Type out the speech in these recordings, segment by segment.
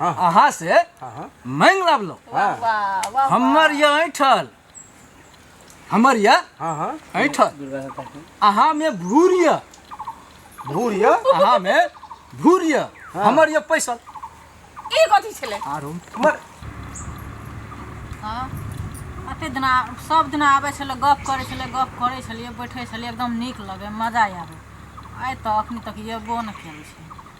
हाँ, हाँ। अहाँ से हाँ, हाँ। मांग लाबलो वाह वाह वाह हमर ये ऐठल हमर ये हाँ हाँ ऐठल अहाँ में भूर ये भूर ये अहाँ में भूर ये हाँ। हमर ये पैसा ई कथी छलै आरो हमर हाँ कते दिना सब दिना आबै छलै गप करै छलै गप करै छलियै बैठै छलियै एकदम नीक लगै मजा आबै आइ तऽ अखन तक एबो नहि केलै छै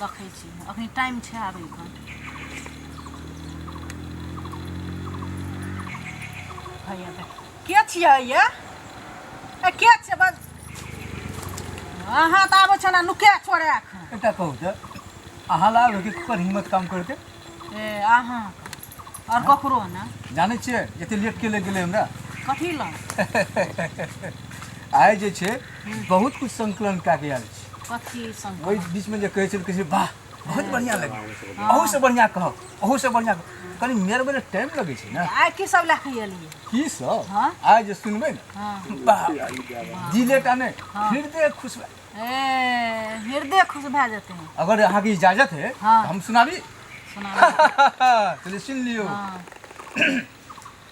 देखै छी अखन टाइम छै आबैके भैया तऽ के छियै ये ए के छियै बस अहाँ तऽ आबै छौ ने नुके छोड़े एखन एकटा कहू तऽ अहाँ लाभ कि ककर हिम्मत काम करके ए अहाँ और ककरो ना जानै छियै एते लेट के लग गेलै हमरा कथी ला आइ जे छै बहुत कुछ संकलन कए के आयल छी कथी संग ओहि बीच में जे कहै छल कहै छै वाह बहुत बढ़िया लगे अहू से बढ़िया कहब अहू से बढ़िया कहब। कनी मेर में टाइम लगे छै ना आइ की सब लए के एलियै की सब हाँ। आइ जे सुनबै ना हाँ। वाह दिले टा नहि हृदय खुश भए ए हृदय खुश भए जेतै अगर अहाँके इजाजत है हाँ। तऽ हम सुनाबी सुना चलिए सुन लियो हाँ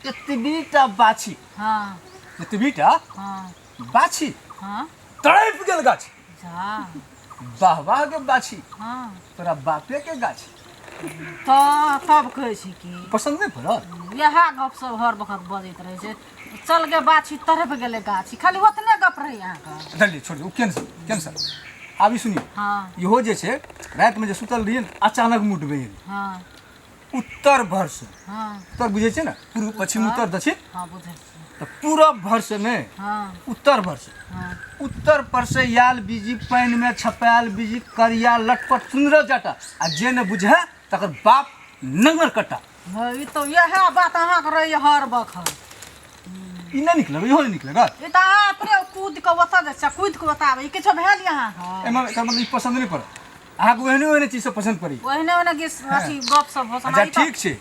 एतबीटा बाछी हाँ एतबीटा हाँ बाछी हाँ तड़प गेल गाछी जा वाह वाह के बाछी हाँ तोरा बापे के गाछी तऽ तब कहै छी कि पसन्द नहि पड़ल इएह गपसभ हर वक्त बजैत रहै छै चल गे बाछी तरफ गेले गाछी खाली ओतने गप रही अहाँके चलिए छोड़ दियौ कैंसिल कैंसिल आब ई सुनियौ हाँ इहो जे छै रातिमे जे सुतल रहियै ने अचानक मुड बनि गेलै हाँ उत्तर भरसँ हाँ उत्तर बुझै छै ने पूर्व पश्चिम उत्तर दक्षिण हाँ बुझै छी तऽ पूरब भरसँ नहि हाँ उत्तर भरसँ हाँ उत्तर पर से आयल बीजी पानि में छपायल बीजी करिया लटपट सुंदर जटा आ जे ने बुझे तकर बाप नंगर कटा हँ ई तऽ इएह बात अहाँके रहैए हर बखत ई नहि निकलग इहो नहि निकलग ई तऽ अहाँ अपने कूद कऽ ओतऽ जाइ छियै कूद कऽ ओतऽ आबै ई किछो भेल यऽ अहाँके एहिमे एकर मतलब ई पसन्द नहि पड़त अहाँके ओहने ओहने चीज सब पसन्द पड़ी ओहने ओहने गीत अथी गप सब हो अच्छा सुनाइ ठीक छै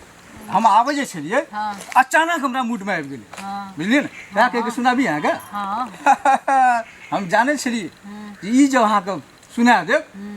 हम आबै जे छलियै हँ अचानक हमरा मूडमे आबि गेलै हँ बुझलियै ने वएह कहिके सुनाबी अहाँके हँ हम जानै छलियै हूँ, कि ई जब अहाँके सुना देब हूँ।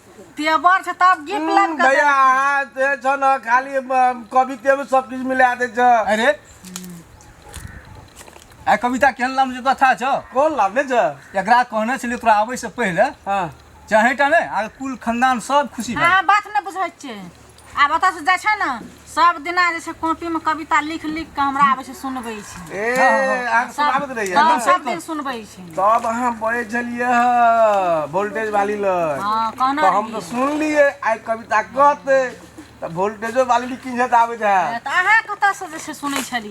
तेवर छै तब गिफ्ट हम्म, लाइब कर भैया अहाँ जे छ न खाली अम, कविते में सब किछु मिला दै छ अरे आ कविता केहन नाम जे कथा छ कोन लाभ नै छ एकरा कहने छलियै तोरा आबै से पहिले हँ चाहे टा ने आ कुल खानदान सब खुशी भए हाँ बात न बुझै छै आब ओतऽ से जाइ छै ने सब दिना जे छै कॉपी में कविता लिख लिख के हमरा आबै छै सुनबै छै ए अहाँ सुनाबैत रहिए सब ने सब दिन सुनबै छै तब अहाँ बैठ जलिए वोल्टेज वाली लग हाँ कहना तो हम तो सुन लिए आई कविता कहते तो वोल्टेजो वाली भी किंजत आबे है तऽ अहाँ कतऽ से जे छै सुनै छलियै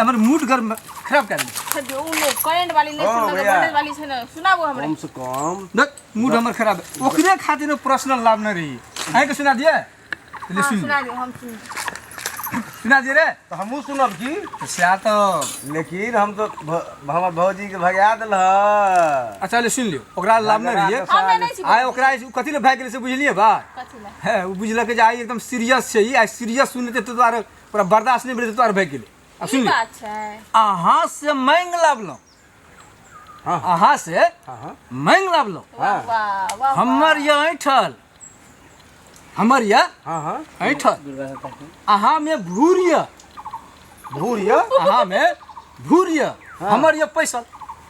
हमर मूड गर खराब कर दे जो उ लोग करंट वाली नहीं हाँ, सुनल भैया। वोल्टेज वाली से ना सुनाबो हमरे कम से कम देख मूड हमर खराब है। ओकरे खातिर पर्सनल लाभ न रही है के सुना दिए तो ले हाँ, सुन सुना दे हम सुन सुना दिए रे तो हमहू सुनब की तो स्या तो लेकिन हम तो भ- हमर भौजी के भगा दिल ह अच्छा ले सुन लियो ओकरा लाभ न रही हम ना नहीं छी आय ओकरा ई कथी ले भाग गेलै से बुझलिए बा कथी ला है ओ बुझलक जे आइ एकदम सीरियस छै ई आइ सीरियस सुनते तो दुआरे तोरा बर्दाश्त नहि भेलै तऽ तोहर भए गेलै आ ई सुनली बात छै अहाँ से मांगि लाबलहुँ हाँ, हाँ। अहाँ से हाँ हाँ मांगि लाबलहुँ वाह हाँ। वाह वाह हमर यऽ ऐठल हमर यऽ हाँ हाँ ऐठल अहाँमे भूर यऽ भूर यऽ अहाँमे भूर यऽ हमर यऽ पैसा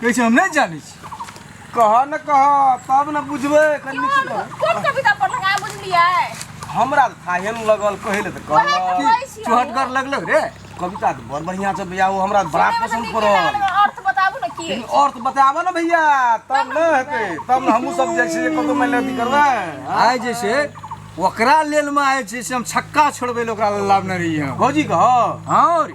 कहै छै हम नहि जानै छी कह न कह तब न बुझबै कन्नी से कह कोन कविता पढ़लक आ बुझलियै हमरा तऽ थाहे ने लगल कहै लए तऽ वएह कहल तऽ कहै छियै। चोहटगर लगलक रे कविता तऽ बड़ बढ़िया से भैया ओ हमरा बड़ा सुनै पसन्द मतलब पड़ल कि अर्थ बताबू ने की लेकिन और तो बताबो ना भैया तब न हेतै तब न हमहूँ सब जाइ छियै कतौ मानि लिअ अथी करबै आइ जे छै ओकरा लेल में आयल छै से हम छक्का छोड़बै लए ओकरा लाबने रहियै हम। भौजी कह हँ रे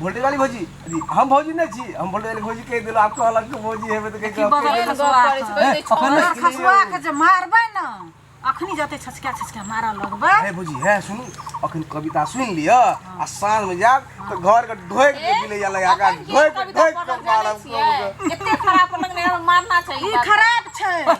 वोल्टेज वाली भौजी अभी हम भौजी नहीं छी हम वोल्टेज वाली भौजी कह देलो आपको अलग के भौजी हेबे त कह के बगल आपके- में खसुआ करे छै, कहै छै, छोड़ अपने- दे। खसुआ के जे मारबै ने अखनी जते छचका छचका मारऽ लगबै अरे भौजी है सुनू अखन कविता सुन लियो आ साँझ में जाब तो घर के ढोक के बिले जा लगा के अपन गीत ढोक कविता ढोक के पढ़ल मारब जानै छियै? एते खराब पलंग नहि मारना चाहिए ई खराब छै